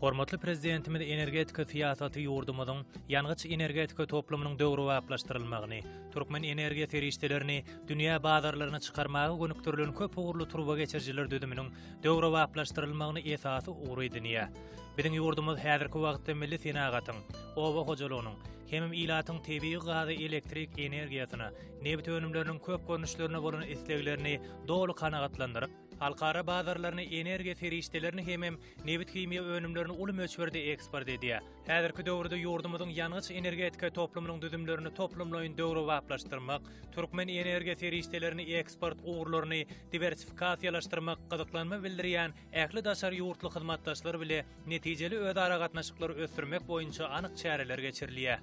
Hormatly Prezidentimiz energetika syýasaty ýurdumyzyň ýangyç-energetika toplumynyň döwrebaplaşdyrylmagyny, türkmen energiýa serişdelerini dünýä bazarlaryna çykarmaga gönükdirilen köp ugurly turbageçirijiler düzüminiň döwrebaplaşdyrylmagyny esasy ugur edinýär. Biziň ýurdumyz häzirki wagtda milli senagatyň, oba hojalygynyň, hemem ilatyň tebigy gaza elektrik energiýasyna, nebit önümleriniň köp görnüşlerine bolan isleglerini doly kanagatlandyryp, halkara bazarlaryna energiýa serişdelerini hemem nebithimiýa önümlerini uly möçberde eksport edýär. Häzirki döwürde ýurdumyzyň ýangyç-energetika toplumynyň düzümlerini toplumlaýyn döwrebaplaşdyrmak, türkmen energiýa serişdelerini eksport ugurlaryny diwersifikasiýalaşdyrmak gyzyklanma bildirýän ähli daşary ýurtly hyzmatdaşlar bile netijeli özaragatnaşyklary ösdürmek boýunça anyk çäreler geçirilýär.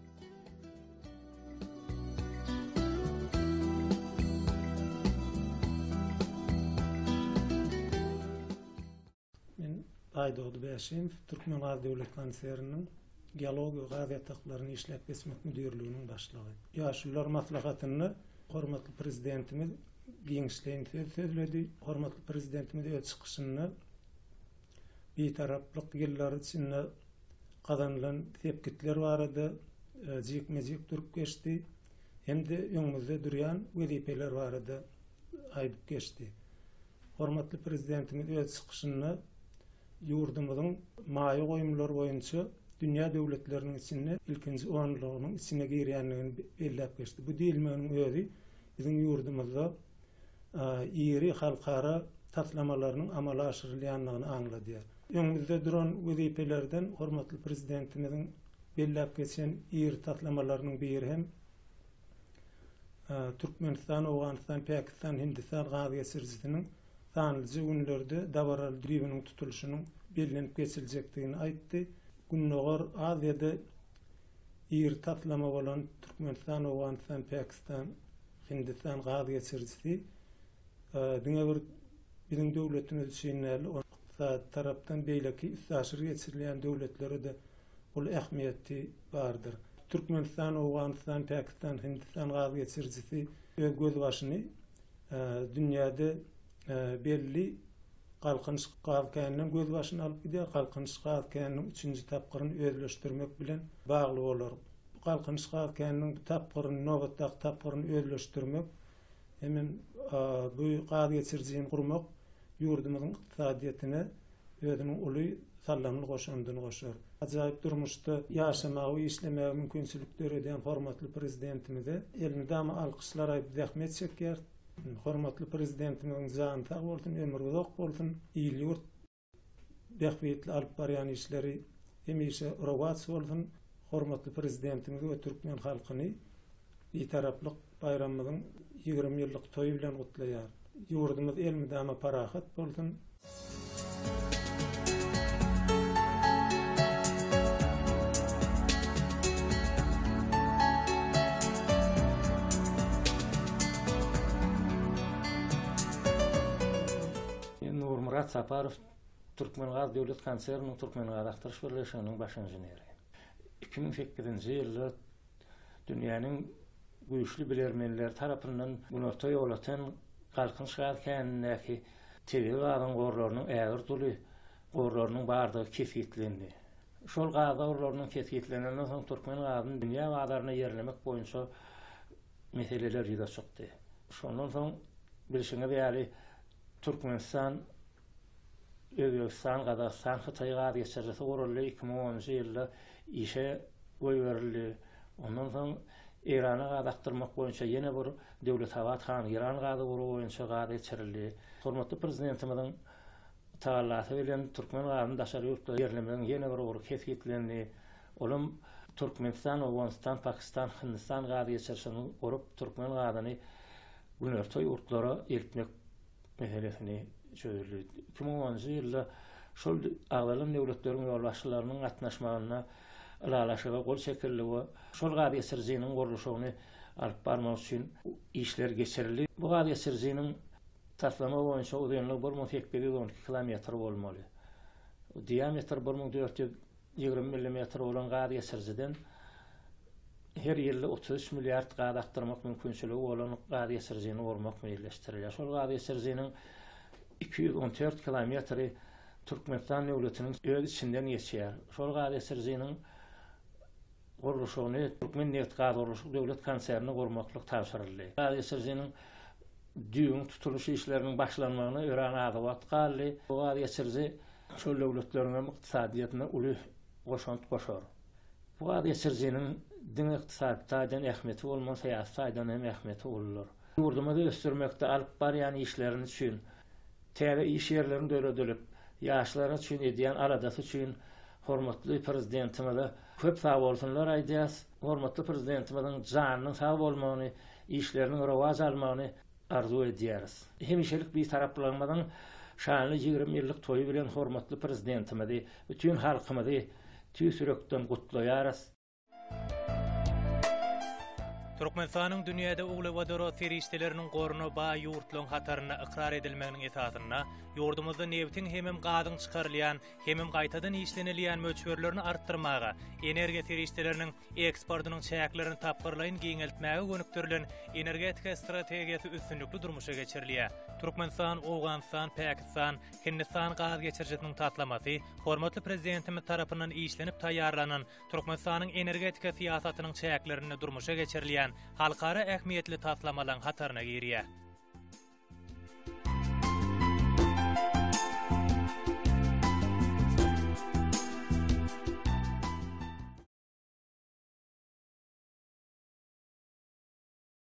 Aýdogdy Bäşimow, Türkmengaz döwlet konserniniň Geologiýa we gaz ýataklaryny işläp geçmek müdirliginiň başlygy. Ýaşulular maslahatynda hormatly Prezidentimiz giňişleýin söz sözledi. Hormatly Prezidentimiz öz çykyşynda Bitaraplyk ýyllary içinde gazanylan sepgitler barada jikme-jik durup geçdi hem-de öňümizde durýan wezipeler barada aýdyp geçdi. Hormatly Prezidentimiz öz çykyşynda ýurdumyzyň maýa goýumlar boýunça dünýä döwletleriniň içinde ilkinji onlugynyň içine girýändigini belläp geçdi. Bu diýilmeginiň özi Biziň ýurdumyzda iri halkara taslamalarynyň amala aşyrylýandygyny aňladýar. Öňümizde duran wezipelerden hormatly Prezidentimiziň belläp geçen iri taslamalarynyň biri hem Türkmenistan, Owganystan, Pakistan, Hindistan gaz geçirijisiniň sanlyja günlerde dabaraly düýbüniň tutulyşynyň bellenip geçiljekdigini aýtdy. Gündogar Aziýada Iri taslama bolan Türkmenistan, Owganystan, Pakistan, Hindistan gaz geçirijisi diňe bir biziň döwletimiz üçin däl, ykdysady tarapdan beýleki üstaşyr geçirilýän döwletlere-de uly ähmiýeti bardyr. Türkmenistan, Owganystan, Pakistan, Hindistan gaz geçirijisi öz gözbaşyny dünýäde Belli Galkynyş gaz käninden gözbaşyny alyp gidýär. Galkynyş gaz käniniň üçünji tapgyryny özleşdirmek bilen bagly bolar. Galkynyş gaz käniniň bu tapgyryny, nobatdaky tapgyryny özleşdirmek hem-ä bu gaz geçirijini gurmak ýurdumyzyň ykdysadyýetine özüniň uly sallamly goşandyny goşar. Ajaýyp durmuşda ýaşamaga we işlemäge mümkinçilik döredýän hormatly Prezidentimize elmydama alkyşlar aýdyp zähmet çekýäris. Hormatly Prezidentimiziň jany sag bolsun, ömri uzak bolsun, il-ýurt bähbitli alyp barýan işleri hemişe rowaç bolsun, hormatly Prezidentimizi we türkmen halkyny Bitaraplyk baýramymyzyň ýigrimi ýyllyk toýy bilen gutlaýar. Ýurdumyz elmydama parahat bolsun! Nurmyrat Saparow Türkmengaz döwlet konserniniň Türkmengazakdyryş birleşiginiň baş inženeri. Iki müň sekizinji ýylda Dünýäniň güýçli bilermenleri tarapyndan günorta ýol atan Galkynç gaz känindäki tebigy gazyň gorlarynyň ägirt duly gorlarynyň bardygy kesgitlendi. Şol gaz gorlarynyň kesgitlenenden soň türkmen gazyny dünýä bazaryna ýerlemek boýunça meseleler ýüze çykdy. Şondan soň bilşiňiz ýaly Türkmenistan Özbegistan, Gazagystan, Hytaý gaz geçirijisi guruldy, iki müň onunjy ýylda işe goýberildi. Ondan soň Eýrana gaz akdyrmak boýunça ýene bir Döwletabat han Eýran gazygury boýunça gaz geçirildi. Hormatly Prezidentimiziň tagallasy bilen türkmen gazyny daşary ýurtlara ýerlemegiň ýene bir ugry kesgitlendi. Olam Türkmenistan, Owganystan, Pakistan, Hindistan gaz geçirişini gurup, türkmen gazyny günorta ýurtlara eltmek meselesini çözüldi. Iki müň onunjy ýylda şol agzalan döwletleriň ýolbaşçylarynyň gatnaşmagynda ylalaşyga gol çekildi we şol gaz geçirijiniň gurluşygyny alyp barmak üçin işler geçirildi. Bu gaz geçirijiniň taslama boýunça uzynlygy bir müň sekiz ýüz on iki kilometr bolmaly, diametri bir müň dört ýüz Ýigrimi millimetr bolan gaz geçirijiden her ýylda otuz üç milliard gaz akdyrmak mümkinçiligi bolan gaz geçirijini gurmak meýilleşdirilýär. Şol gaz geçirijiniň iki ýüz on dört kilometri Türkmenistan döwletiniň öz içinden geçýär. Şol gaz geçirijiniň gurluşygyny Türkmennebtgazgurluşyk döwlet konsernine gurmaklyk tabşyryldy. Gaz geçirijiniň düýbüň tutulyş işleriniň başlanmagyna örän az wagt galdy. Bu gaz geçiriji şol döwletleriň hem ykdysadyýetine uly goşant goşar. Bu gaz geçirijiniň diňe ykdysady taýdan ähmiýeti bolman, syýasy taýdan hem ähmiýeti uludyr. Ýurdumyzy ösdürmekde alyp barýan işlerini üçin, Täze iş ýerleriň döredilip, ýaşlar üçin edýän aladasy üçin hormatly Prezidentimize köp sagbolsunlar aýdýas. Hormatly Prezidentimiziň janynyň sag bolmagyny, işleriniň rowaç almagyny arzuw edýäris. Hemişelik Bitaraplygyymyzyň şanly ýigrimi ýyllyk toýy bilen hormatly Prezidentimizi, bütin halkymyzy tüýs ýürekden gutlaýarys. Türkmenistanyň dünýäde uglewodorod serişdeleriniň goruna baý ýurtlaryň hatarynda ykrar edilmeginiň esasynda, ýurdumyzda nebitiň hemem gazyň çykarylýan, hemem gaýtadan işlenilýän möçberlerini artdyrmaga, energiýa serişdeleriniň eksportynyň çäklerini tapgyrlaýyn giňeltmäge gönükdirilen energetika strategiýasy üstünlikli durmuşa geçirilýär. Türkmenistan, Owganystan, Pakistan, Hindistan gaz geçirijisiniň taslamasy hormatly Prezidentimiz tarapyndan işlenip taýýarlanan Türkmenistanyň energetika syýasatynyň çäklerinde durmuşa geçirilýän halkara ähmiýetli taslamalaryň hataryna girýär.